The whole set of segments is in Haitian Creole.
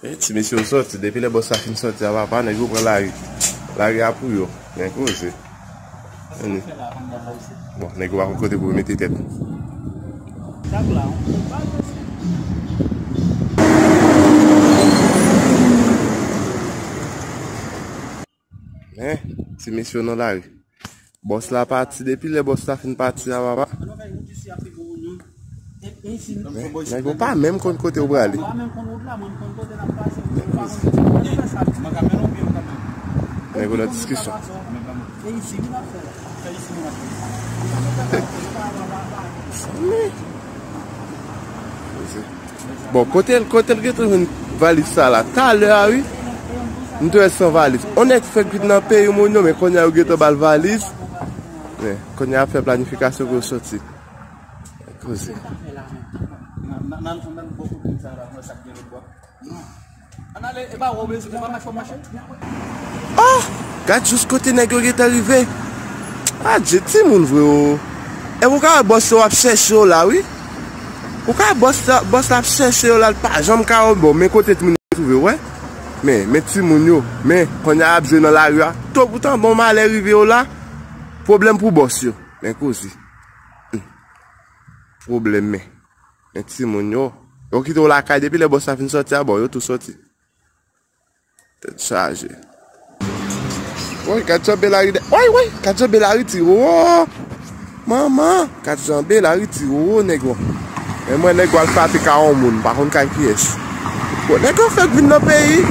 E ti mesye yo sòti, depi lè bòs sa fin sòti a papa nèg yo pran lari. Lari a pou yo, gen koze. Bon, nèg yo pa kon kote pou yo mete tèt. Hein, ti mesye yo nan lari. Bòs la pati, depi lè bòs la fin pati a papa. Nèg yo pa menm konn kote yo prale. Nèg yo nan diskisyon. Mezanmi. Bon kotel kotel gentan jwenn valiz sa la talè a wi m t wèl san valiz on nèg fèk vin nan peyi moun yo men konnya yo gentan bal valiz men konnya yap fè planifikasyon pou yo soti koze. Ohh gad jous kote nèg yo gentan rive Adje timoun vre oo Epi ou ka wè bòs yo ap chèche yo la wi Ou ka wè bòs la bòs la ap chèche yo la li pa janm ka wè bon men kote timoun yo twouve yo wè Men men timoun yo men konnya yap jwe nan lari a To poutan bon malè rive yo la Pwoblèm pou bòs yo men koze Hum pwoblèm men. Men timoun yo. Yo kite w lakay depi lè bòs la fin sòti a bon yo tou sòti. Tèt chaje. Woy gad jan Belary de. Woy woy gad jan Belary ti roro. Manman gad jan Belary ti roro nèg yo. Men mwen nèg wal frape ka on moun pa konn kay kiyès. Bon nèg yo fèk vin nan peyi.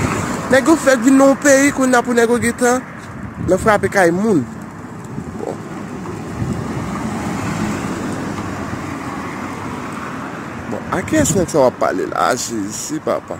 Nèg yo fèk vin nan yon peyi kounna pou nèg yo gen tan. Nan frape kay moun. Bon. Bon, a ki es nèg sa wap pale la? A Jezi papa.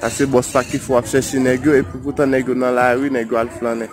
Sa se bòs la ki fè w ap chèche nèg yo epi poutan nèg yo nan lari, nèg yo al flannen.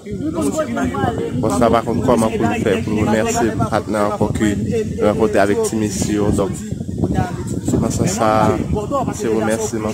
Bon sa pa konn kòman pou l fè pou l remèsye patnè an ankò ke l rankontre avèk ti mesye yo donk se nan sans sa a se remèsiman.